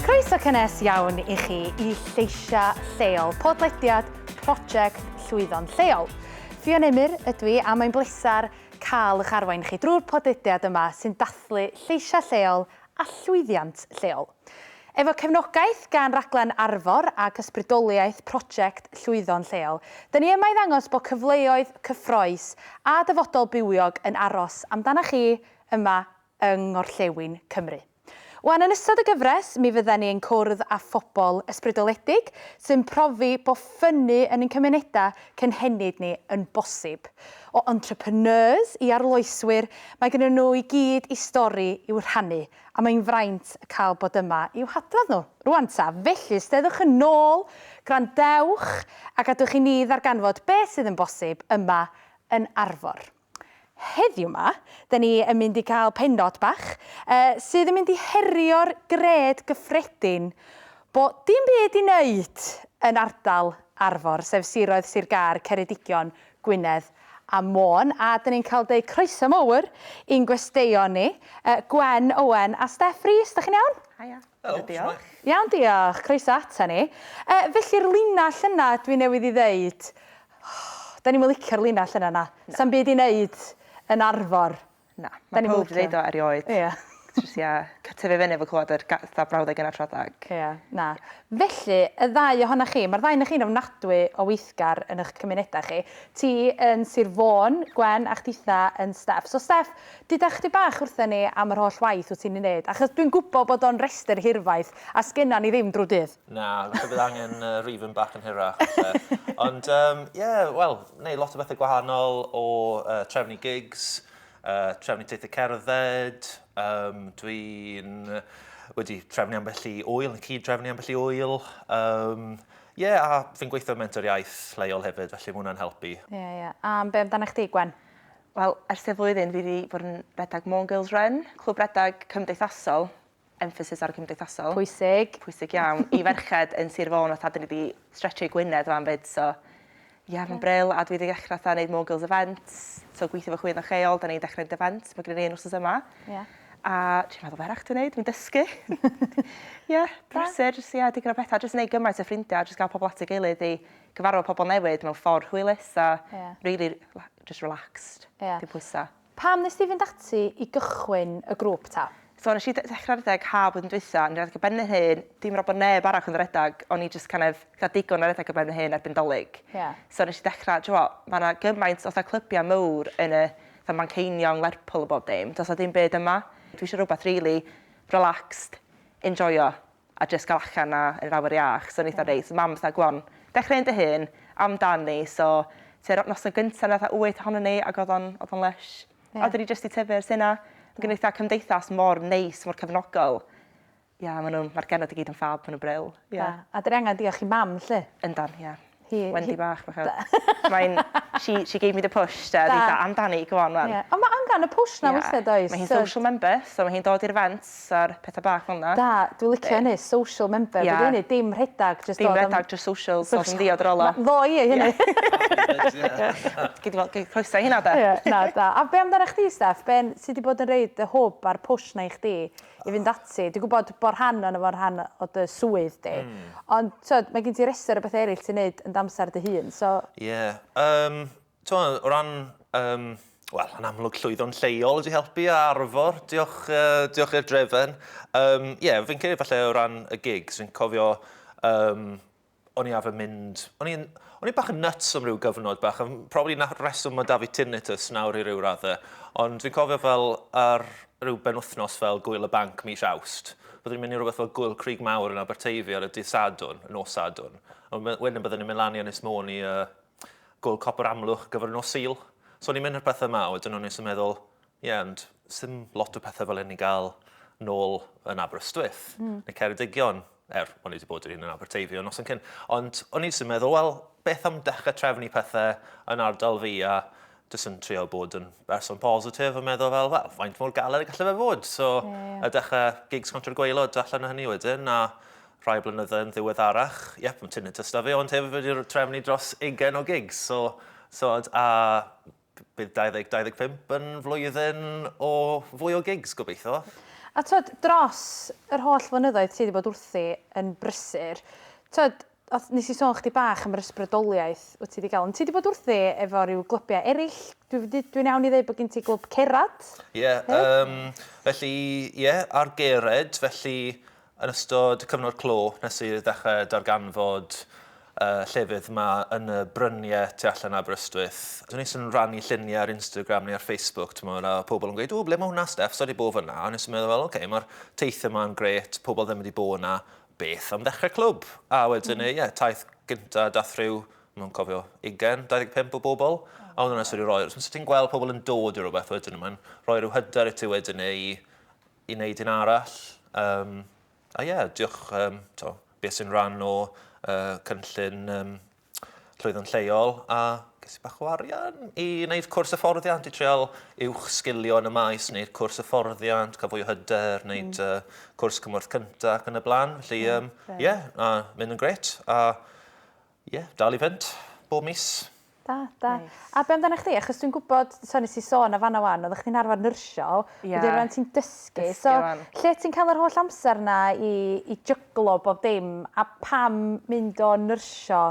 Croeso cynnes iawn i chi i Lleisia Lleol, podlediad Prosiect Llwyddo'n Lleol. Ffion Emyr ydw i a mae'n bleser cael eich arwain chi drwy'r podlediad yma sy'n dathlu lleisia lleol a llwyddiant lleol. Efo cefnogaeth gan Raglen Arfor ac ysbrydoliaeth Prosiect Llwyddo'n Lleol, 'da ni yma i ddangos bod cyfleoedd cyffrous a dyfodol bywiog yn aros amdana chi yma yng Ngorllewin Cymru. Wan yn ystod y gyfres, mi fydda ni yn cwrdd â phobl ysbrydoledig sy'n profi bod ffynnu yn ein cymunedau cynhenid ni yn bosib. O entrepreneurs i arloeswyr, mae gennyn nhw i gyd i stori i'w rhannu, A mae'n fraint cael bod yma i'w hadrodd nhw. Rŵan ta, felly, os deuddwch yn ôl, gwrandewch, a gadwch i ni ddarganfod beth sydd yn bosib yma yn Arfor. Heddiw 'ma, 'da ni yn mynd i gael pennod bach, uh, sydd yn mynd i herio'r gred gyffredin bo dim byd i wneud yn ardal Arfor, sef siroedd Sir Gâr, Ceredigion, Gwynedd a Môn a 'dyn ni'n cael deud croeso mowr i'n gwesteion ni, yy Gwen Owen a Steff Rees, 'dach chi'n iawn? Haia. Helo, diolch. Iawn diolch, croeso ata ni. Yy felly'r linell yna dwi newydd 'i ddeud, 'dan ni'm yn licio'r linell yna na, 'sa'm byd i neud yn Arfor. Na. Mae pawb 'di deud o erioed. Ia. Jyst ia, c- tyfu fyny efo clwad yr ga- 'tha brawddeg yna tra thag. Ia, na. Felly, y ddau ohona chi, mae'r ddau ohonoch chi'n ofnadwy o weithgar yn ych cymunedau chi. Ti yn Sir Fôn, Gwen, a chditha yn Steff. So Steff, duda chdi bach wrtha ni am yr holl waith wyt ti'n ei wneud, achos dwi'n gwybod bod o'n restr hirfaith a sgenna ni ddim drwy dydd. Na, falle bydd angen uh, rifyn bach yn hirach. Ond, ie, um, yeah, wel, neu lot o bethau gwahanol o uh, trefnu gigs, uh, trefnu teithio cerdded, um, dwi'n wedi trefnu ambell i wyl, yn cyd trefnu ambell i wyl. Um, Ie, yeah, a fi'n gweithio mentor iaith leol hefyd, felly mwyn hwnna'n helpu. Ie, yeah, ie. Yeah. A be amdano chdi, Gwen? Wel, ers y flwyddyn fi wedi bod yn redag Môn Girls Run, clwb redag cymdeithasol, emphasis ar y cymdeithasol. Pwysig. Pwysig iawn. I ferched yn Sir Fôn fatha 'dyn ni 'di stretchio i Gwynedd rwan 'fyd so Ie mae'n bril a dwi 'di ddechra fatha neud more girls events so gweithio efo chwyddo lleol 'dan ni'n dechre neud events ma' gynnon ni un wsos yma. Ie. A trio meddwl be' arall dwi'n neud fi'n dysgu. Ie brysur jys ie digon o petha jys neud gymaint o ffrindia jys ga'l pobol at ei gilydd i gyfarfod pobol newydd mewn ffor hwylus a... Ie. ...rili rela- jys relaxed. Ie. Dim pwysa. Pam nes di fynd ati i gychwyn y grŵp ta? So nes i ddechra redeg ha blwyddyn dwytha, o'n i'n redeg ar ben fy hun, dim yn gwbo bo neb arall yn redeg, o'n i jyst kind of ca'l digon o redeg ar ben fy hun erbyn dolig. Ie. So nes i dechra, d'you know what, ma' 'na gymaint o fatha clybiau mowr yn y fatha Manceinion, Lerpwl a bob dim, does 'na dim byd yma. Dwi isio rwbath rili relaxed, enjoio. a jyst cael allan a yn yr awyr iach, so o'n i fatha reit, mam fatha go on, dechrau un dy hun, amdan ni, so tua'r noson gynta' o' 'na fatha wyth ohonon ni ag odd o'n odd o'n lysh. Ie. A 'dyn ni jyst 'di tyfu ers hynna. Ma' gynno ni fatha cymdeithas mor neis mor cefnogol. Ie ma' nw'n ma'r genod i gyd yn ffab ma' nw'n brill. Ie. Da. A 'dyn ni angan diolch i mam 'lly. Yndan ie. Hi. Wendy bach fatha. Mae'n she she gave me the push 'de. O'dd 'i fatha amdani go on run. Ie on' ma' angan y push 'na weithia' does? Mae hi'n social member so ma' hi'n dod i'r events a'r petha bach fel 'na. Da dwi licio hynny social member be' 'di hynny dim rhedag jyst dod am... Dim redag jyst social dod yn ddiod ar ôl o. Na fo i hynny. Gei di wel- gei croeso i hynna 'de. Ie na da. A be' amdanach chdi Steff be' n- ti 'di bod yn roid y hwb a'r push 'na i chdi? i fynd ati. Dwi'n gwybod bod rhan o'n efo'n rhan o dy swydd di. Mm. Ond, tywed, mae gen ti restr o bethau eraill ti'n neud yn damser dy hun, so... Ie. Yeah. Um, tywed, o ran... Um, Wel, yn amlwg llwyddo'n lleol wedi helpu a arfor. Diolch, uh, diolch i'r drefen. Ie, um, yeah, fi'n credu falle o ran y gigs, fi'n cofio um, o'n i arfer mynd... O'n i'n o'n i bach yn nuts am ryw gyfnod bach, a probably na reswm mae David Tinnitus nawr i ryw raddau, ond dwi'n cofio fel ar ryw benwthnos fel Gwyl y Banc mis Awst, byddwn ni'n mynd i rhywbeth fel Gwyl Crig Mawr yn Aberteifi ar y dydd Sadwn, y nos Sadwn, a wedyn byddwn ni'n mynd lan i Ynys Môn i uh, Gwyl Copr Amlwch gyfer y nos Sul. So o'n i'n mynd i'r pethau yma, wedyn o'n i'n meddwl, Ie ond sdim lot o pethe fel hyn i ga'l nôl yn Aberystwyth. Hmm. Neu Ceredigion er o'n i wedi bod yr un yn Aberteifi o noson cyn. Ond o'n i jyst yn meddwl wel beth am dechrau trefnu pethe yn ardal fi a jyst yn trio bod yn berson positif a meddwl fel wel faint mor galed y gallai fe fod. So yeah. a dechrau gigs contra'r gwaelod allan o hynny wedyn a rhai blynydde yn ddiweddarach, yep, mae Tinnitus da fi, ond hefyd wedi trefnu dros 20 o gigs. So, so a bydd 2025 yn flwyddyn o fwy o gigs, gobeithio. A twod, dros yr holl flynyddoedd ti 'di bod wrthi yn brysur, twod, odd, nes i sôn chdi bach am yr ysbrydoliaeth wt ti 'di ga'l, ond ti 'di bod wrthi efo ryw glybiau erill, dwi wedi, dwi'n iawn i ddeud bod gen ti glwb cerad? Ie, yym, felly, ie, ar gered, felly, Yn ystod cyfnod clo, nes i ddechrau darganfod y llefydd yma yn y bryniau tu allan Aberystwyth, o'n i yn rhannu lluniau ar Instagram neu ar Facebook, timod, a pobl yn gweud, o, ble mae hwnna, Steff, so wedi bod fyna, a nes i meddwl, wel, oce, okay, mae'r teithio yma'n gret, pobl ddim wedi bod yna, beth am ddechrau clwb? A wedyn, mm. ie, yeah, taith gyntaf, dath rhyw, mae'n cofio, 20, 25 o bobl, a oedd hwnna sydd wedi rhoi, os ti'n gweld pobl yn dod i rhywbeth wedyn, mae'n rhoi rhyw hyder i ti wedyn neu i wneud un arall. Um, a ie, yeah, diolch um, to, beth sy'n rhan o uh, cynllun um, llwyddo'n lleol a ges i bach o arian i wneud cwrs hyfforddiant, i treol uwch sgilio yn y maes, wneud cwrs hyfforddiant, cael fwy o hyder, wneud mm. uh, cwrs cymorth cyntaf ac yn y blaen. Felly, ie, um, yeah, a mynd yn gret. A Ie, dal i fynd, bob mis. Da, da. A be amdana chdi? Achos dwi'n gwybod, so nes i sôn o fanna wan, oeddach chdi'n arfer nyrsio, wedyn rwan ti'n dysgu, so lle ti'n cael yr holl amser na i i jyglo bob dim, a pam mynd o nyrsio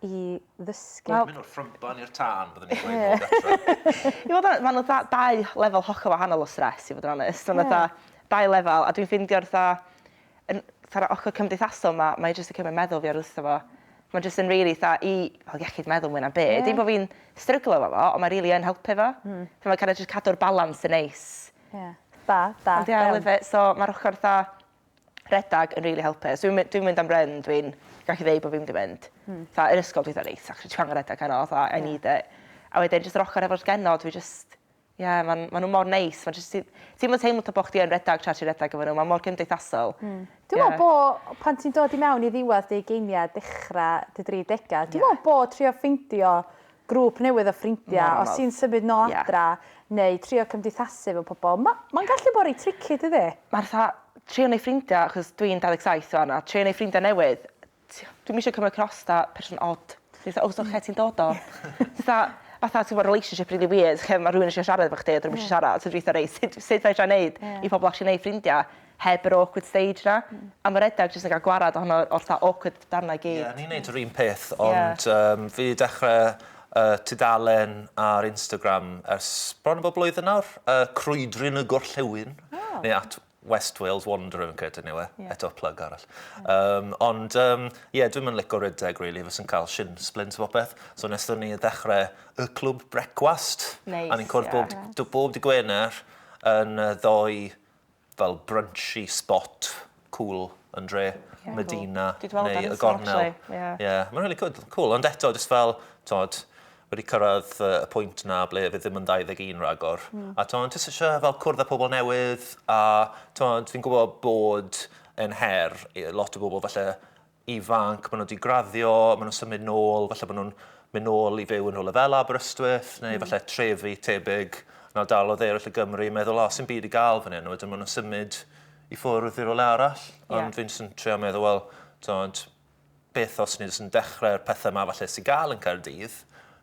i ddysgu? Wel... Mynd o'r ffrymban i'r tân, byddwn i'n dweud nôl gartre. I fod yn, ma' 'na fatha dau lefel hollol wahanol o stress i fod yn onest, ond fatha dau lefel, a dwi'n ffeindio fatha yn fatha yr ochr cymdeithasol 'ma, mae jyst yn cymryd meddwl fi oddi wrtho fo. Mae jyst yn rili fatha i fel iechyd meddwl mwy na'm byd. Ie. Dim bo' fi'n stryglo efo fo ond mae rili yn helpu fo. Hmm. So mae kinda jyst cadw'r balans yn neis. Ie. Da, da. Ond ie I love it so ma'r ochor fatha rhedag yn rili helpu. Os dwi'm my- dwi'm mynd am run dwi'n gallu ddeu bo' fi mynd i fynd. Hmm. Fatha yn ysgol dwi fatha reit actually dwi angen redeg heno fatha I need it. A wedyn jyst yr ochor efo'r genod dwi jyst Ie, maen maen nhw mor neis. Maen jyst... Ti'm yn teimlo ta bo' chdi yn redag tra ti'n redag efo nhw. Maen mor cymdeithasol. Mm. Dwi'n meddwl bo' pan ti'n dod i mewn i ddiwedd dy ugeiniau, dechra dy dri degau, dwi'n meddwl bo' trio ffeindio grŵp newydd o ffrindiau, os ti'n symud nôl adra, neu trio cymdeithasu efo pobl, ma' ma'n gallu bod reit tricky dydi? Ma'r fatha trio neud ffrindia, achos dwi'n 27 wan, a trio neud ffrindia newydd, Ti- dwi'm isio cymyd cross 'tha person od. Ti fatha o so lle ti'n dod o? Ti fatha fatha t'mo' relationship rili wierd lle ma' rhywun isio siarad efo chdi a 'dyn nw'm isio siarad so dwi itha reit sud sud fedra i neud i pobol actually neu' ffrindia heb yr awkward stage 'na. A ma' redag jyst yn ga'l gwarad ohono o'r 'tha awkward darna i gyd. Ie o'n i'n neud yr un peth ond yym fi 'di dechre yy tudalen ar Instagram ers bron a bod blwyddyn nawr yy Crwydryn y Gorllewin. O. Neu at West Wales Wanderer yn credu ni we, yeah. eto plug arall. Um, ond, um, yeah, dwi'n mynd lico rydeg, really, fes yn cael shin splint o beth. So nes ni ddechrau y clwb brecwast. Nice, a ni'n cwrdd bob, yeah. bob di Gwener yn ddoi fel brunchy spot cool yn dre. Yeah, Medina cool. neu y Gornel. Yeah. yeah. Mae'n really good, cool. Ond eto, just fel, tod, wedi cyrraedd y pwynt 'na ble fydd ddim yn 21 ragor. Mm. A ti'n jyst eisiau fel cwrdd â pobl newydd, a ti'n fi'n gwybod bod yn her i lot o bobl falle ifanc, maen nhw wedi graddio, maen nhw'n symud nôl, falle maen nhw'n mynd nôl i fyw yn rhywle fel Aberystwyth, neu mm. falle trefi tebyg na dal o ddeirall y Gymru, meddwl, o, sy'n byd i gael fan hyn, wedyn maen nhw'n symud i ffwrdd i rhywle arall. Ond yeah. fi'n sy'n trio meddwl, wel, beth os ni jyst yn dechrau'r pethau yma falle sy'n gael yn Caerdydd.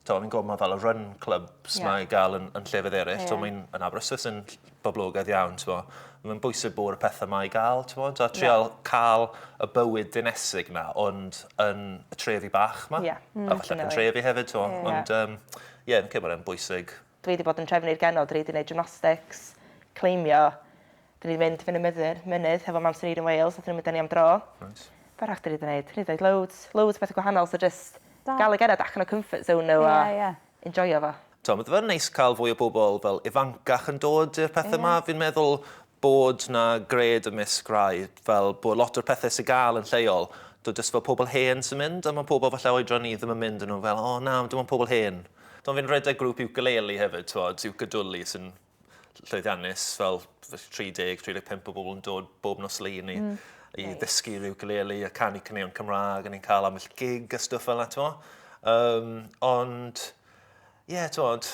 Taw, fi'n gwybod mae fel y run clubs yeah. mae gael yn, yn llefydd eraill. Yeah. Taw, mae'n yn Aberystwyth yn boblogaidd iawn. Taw. Mae'n bwysig bod y pethau mae gael. Taw, a trial yeah. cael y bywyd dinesig na, ond yn y trefi bach yma. Yeah. Mm, a falle yn trefi hefyd. Taw. Yeah. Ond, um, ie, yeah, yn cymryd yn bwysig Dwi wedi bod yn trefnu i'r genod, dwi wedi neud gymnastics, cleimio, dwi wedi mynd fyny myddyn, mynydd hefo mam Sinead yn Wales, nathon n'w mynd â ni am dro. Reit. Be' arall dwi 'di neud? Dwi 'di neud loads, loads o pethe gwahanol so jyst Da. ga'l y genod allan o comfort zone n'w a... Ie ie. ...enjoio fo. T'o' ma' fe'n neis ca'l fwy o bobol fel ifancach yn dod i'r pethe 'ma fi'n meddwl bod 'na gred ymysg rhai, fel bod lot o'r pethe sy gael yn lleol, do, jyst fel pobl hen sy'n mynd, a mae pobl falle oedran ni ddim yn mynd, a nhw fel, o na, dim ond pobl hen. Do, fi'n rhedeg grŵp iwcaleli hefyd, t'mod, iwcadwli, sy'n llwyddiannus, fel 30, 35 o bobl yn dod bob nos Lun i i ddysgu'r iwcaleli a canu caneuon Cymraeg, a ni'n cael ambell gig a stwff fel 'na, t'mo'. Yym, ond, ie, t'mod,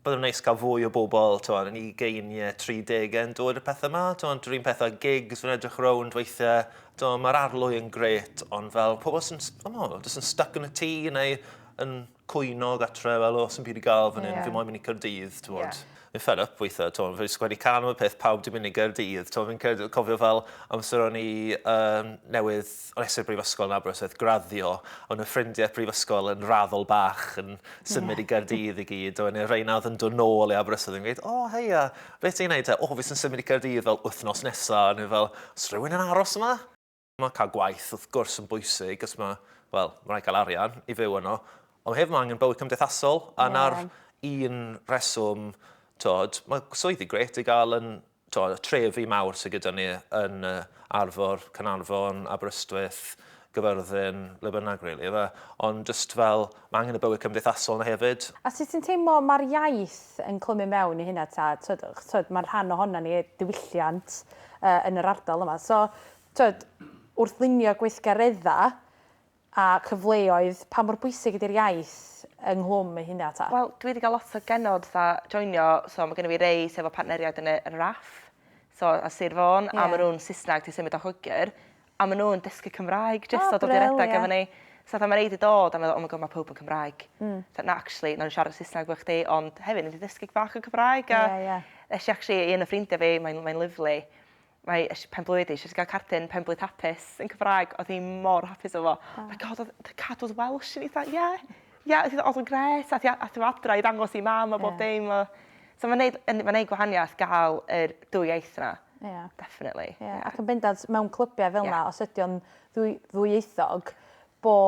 byddwn neis cael fwy o bobl tywed, yn ei geiniau 30 yn dod y pethau yma. Tywed, rhywun pethau gigs, fi'n edrych rownd weithiau. Tywed, mae'r arlwy yn gret, ond fel pobl sy'n oh, sy'n stuck yn y tŷ neu yn cwyno gatre, fel o, sy'n byd i gael fan hyn, yeah. fi moyn mynd i Cyrdydd, tywed. Yeah fi'n fed up weithiau, to, fi'n sgwennu can am y peth pawb di mynd i Gaerdydd, to, fi'n cofio fel amser o'n i um, newydd Wnes i'r Brifysgol yn Aberystwyth graddio, o'n nhw ffrindiau prifysgol yn raddol bach yn symud i Gaerdydd i gyd, o'n nhw rhain oedd yn dod nôl i Aberystwyth yn gweud, o, oh, heia, beth ti'n neud te? O, oh, fi sy'n symud i Gaerdydd fel wythnos nesa, o'n nhw fel, os rhywun yn aros yma? Mae cael gwaith, wrth gwrs, yn bwysig, os mae, wel, mae rhaid cael arian i fyw yno, ond mae hefyd mae angen bywyd cymdeithasol, a na'r un reswm, tod, mae swyddi gret i gael yn t'o' y trefi mawr sy gyda ni yn yy Arfor, Caernarfon, Aberystwyth, Gyfyrddin, le bynnag rili yfe? Ond jyst fel, ma' angen y bywyd cymdeithasol 'na hefyd. A sut ti'n teimlo ma'r iaith yn clymu mewn i hynna ta? T'od, achos t'od, ma'n rhan ohonan ni, diwylliant yy yn yr ardal yma. So, t'od, wrth lunio gweithgaredda, A chyfleoedd, pa mor bwysig ydy'r iaith yng Nghlwm ei huna ta? Wel dwi 'di ga'l lot o genod 'tha joinio so ma' gynno fi rei sy efo partneriaid yn y yn y RAF so a Sir Fôn a ma' nw'n Sysnag ti symud o Lloegyr a ma' nw'n dysgu Cymraeg jyst dod i redeg efo ni. So fatha ma' rei 'di dod a meddwl oh my God ma' powb yn Cymraeg. T'od na actually nawn ni siarad Sysnag efo chdi ond hefyd newn ni ddysgu bach o Cymraeg a... Ie ie. ...nesh i actually i un o ffrindia fi mae'n mae'n lyfli mae eisiau penblwydd i, eisiau ti gael cardyn penblwydd hapus yn Cymraeg, oedd hi mor hapus efo fo. Oh. My god, oedd cadwyd Welsh yn eitha, ie, yeah, ie, yeah, oedd hi'n gret, a ti efo adra i ddangos i mam a bob yeah. dim. So mae'n neud, ma neud gwahaniaeth gael yr dwy iaith yna. Yeah. Definitely. Yeah. yeah. Ac yn bendant, mewn clybiau fel yna, yeah. os ydy o'n ddwy, ddwyieithog, bo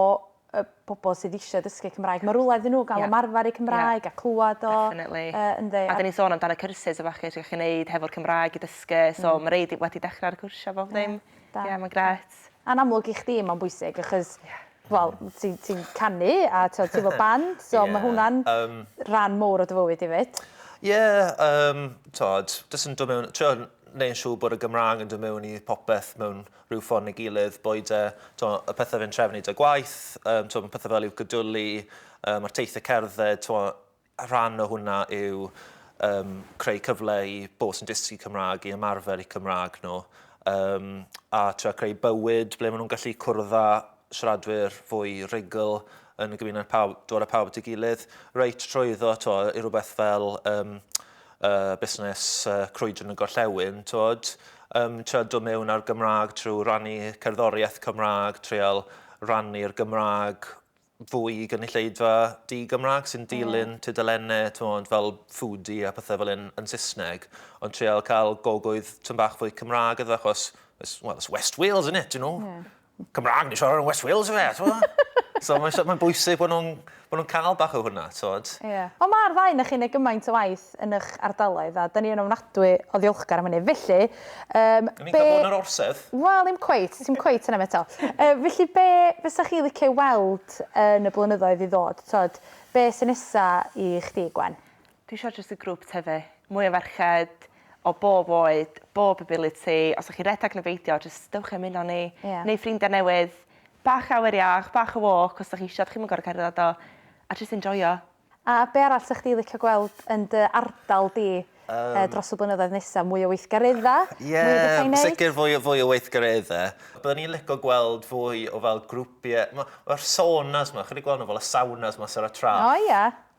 y bobl sydd eisiau dysgu Cymraeg, mae rhywle iddyn nhw gael yeah. ymarfer eu Cymraeg yeah. a clywed o. Definitely. Uh, ynddi. A dyn ni'n sôn amdano cyrsus efo chi, chi'n gwneud hefo'r Cymraeg i dysgu, so mm. mae reid wedi dechrau ar y cwrsio bob ddim. Ie, yeah, yeah, mae'n gret. A'n amlwg i chdi mae'n bwysig, achos yeah. Wel, ti'n ti canu a ti'n ti fo band, so yeah. mae hwnna'n um, rhan mowr o dy fywyd i fyd. Ie, yeah, um, tod, jyst yn dod mewn, trio neu'n siŵr bod y Gymraeg yn dod mewn i popeth mewn rhyw ffordd neu gilydd, boed e, t'mo', y pethe fe'n trefnu 'da gwaith, yym, t'mo', ma' pethe fel i'w gedwli, yy, ma'r teithie cerdded, t'mo', rhan o hwnna yw um, creu cyfle i bobl sy'n dysgu Cymraeg i ymarfer i Cymraeg nhw, um, a trio creu bywyd ble maen nhw'n gallu cwrdd â siaradwyr fwy rhugl yn y gymuned pawb, dod â pawb at ei gilydd, reit trwyddo to, i rhywbeth fel um, uh, busnes uh, crwydr yn y gorllewin, tod, um, trio dod mewn ar Gymraeg trwy rannu cerddoriaeth Cymraeg, treol rannu'r Gymraeg fwy i gynulleidfa di-Gymraeg sy'n dilyn yeah. tudalennau tymod, fel foodie a pethau fel un yn Saesneg, ond treol cael gogwydd tyn bach fwy Cymraeg iddo, achos, well, it's West Wales, isn't it, you know? Yeah. Cymraeg ni siarad yn West Wales yfe, t'mod? So mae'n so, ma bwysig bod nhw'n bod nhw'n cael bach o hwnna, t'mod? Ie. Yeah. Ond mae'r ddau o'ch chi'n ei gymaint o waith yn eich ardaloedd a dyn ni yn ofnadwy o ddiolchgar am hynny. Felly, um, Yn be... bod yn yr orsedd? Wel, ddim cweit, ti'n cweit yna eto. Uh, felly, be fysa chi licio weld yn y blynyddoedd i ddod? Tod, be sy'n nesa i chdi, Gwen? Dwi isio jyst y grŵp tyfu. Mwy o ferched o bob oed, bob ability. Os 'dach chi'n redag ne' beidio jyst dewch i ymuno â ni. Ie. Neu ffrindia newydd. Bach o awyr iach, bach o walk os 'dach chi isio, 'dach chi'm yn gor'o' cerddad o. A jyst enjoio. A be' arall 'sech chdi licio gweld yn dy ardal di yy dros y blynyddoedd nesa? Mwy o weithgaredda? Ie. Mwy o betha i neud? Sicir fwy o fwy o weithgaredde. Byddwn i'n lico gweld fwy o fel grwpie. Ma' ma'r saunas 'ma, chi 'di gwel' n'w fel y saunas 'ma Sara Traff? O ia.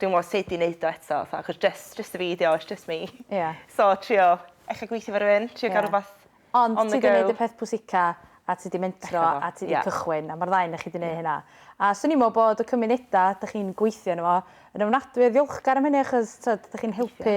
dwi'm yn gwbo sud i neud o eto fatha achos jyst jyst y fi 'di o it's just me. Ia. So trio ella gweithio efo rywun trio ga'l rwbath on the go. Ond ti 'di neud y peth pwysica a ti 'di mentro a ti 'di cychwyn a ma'r ddau o'noch chi 'di neu' hynna. A swn i'n me'wl bod y cymuneda' 'dych chi'n gweithio yno fo yn ofnadwy o ddiolchgar am hynny achos t'od 'dych chi'n helpu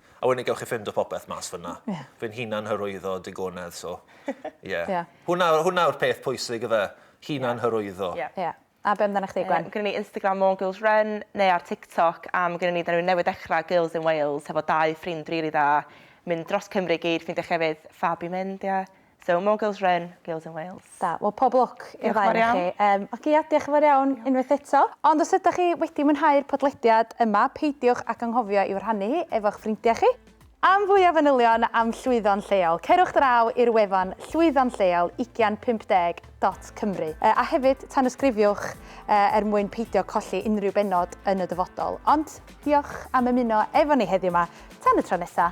A wedyn gewch chi ffindo popeth mas fyna. Ie. Fi'n hunan hyrwyddo digonedd, so ie. Ie. Hwnna, hwnna yw'r peth pwysig yfe, hunan hyrwyddo. Ie. Ie. A be' amdanach chdi Gwen? Yym gynnon ni Instagram More Girls Run neu ar TikTok am gynnon ni 'dan ni newydd dechra Girls in Wales hefo dau ffrind rili dda mynd dros Cymru i gyd ffindio llefydd ffab i mynd ie. So more girls run, girls in Wales. Da, wel pob lwc i'r ddau onoch chi. Yym, oce ia, diolch yn fawr iawn unwaith eto. Ond os ydach chi wedi mwynhau'r podlediad yma, peidiwch ag anghofio i'w rhannu hi efo'ch ffrindiau chi. Am fwy o fanylion am llwyddo'n lleol, cerwch draw i'r wefan llwyddo'n lleol ugian pump deg dot cymru. Yy, a hefyd, tanysgrifiwch yy er mwyn peidio colli unrhyw bennod yn y dyfodol. Ond, diolch am ymuno efo ni heddiw 'ma. Tan y tro nesa!